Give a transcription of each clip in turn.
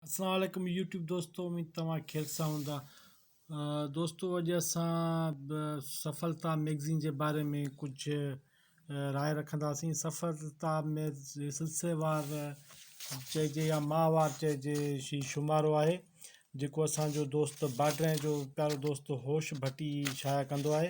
اسلام عليڪم يوٽيوب دوستو اميد توهان خير سان هوندا دوستو اڄ اسان سفلتا ميگزين جي باري ۾ ڪجھ راء رکنداسين سفلتا ۾ سلسليوار چئجي يا ماهوار چئجي شي شمارو آهي جيڪو اسان جو دوست باڊرين جو پيارو دوست هوش ڀٽي شايع ڪندو آهي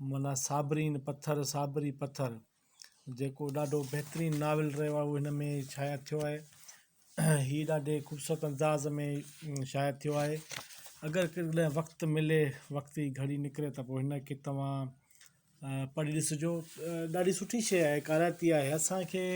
معنيٰ صابرين پٿر صابري پٿر جيڪو ڏاڍو بهترين ناول رهيو آهي اهو هن ۾ شايع ٿيو آهي هي ڏاڍي خوبصورت انداز ۾ شايع ٿيو آهي اگر ڪڏهن وقت ملي وقت جي گهڙي نڪري ته پوء هنکي توهان پڙهي ڏسجو ڏاڍي سٺي شيء آهي ڪارائتي آهي اسانکي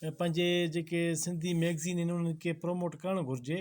پنهنجي جيڪي سنڌي ميگزين آهن انهن کي پروموٽ ڪرڻ گهرجي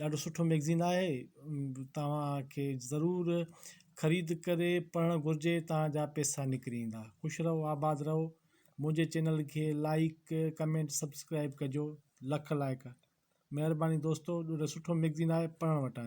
ڏاڍو سٺو ميگزين آهي توهان کي ضرور خريد ڪري پڙهڻ گهرجي توهان جا پيسا نڪري ايندا خوش رهو آباد رهو منهنجي چينل کي لائيڪ ڪمينٽ سبسڪرائب ڪجو لک لائيڪ مهرباني دوستو ڏاڍو سٺو ميگزين آهي پڙهڻ وٽان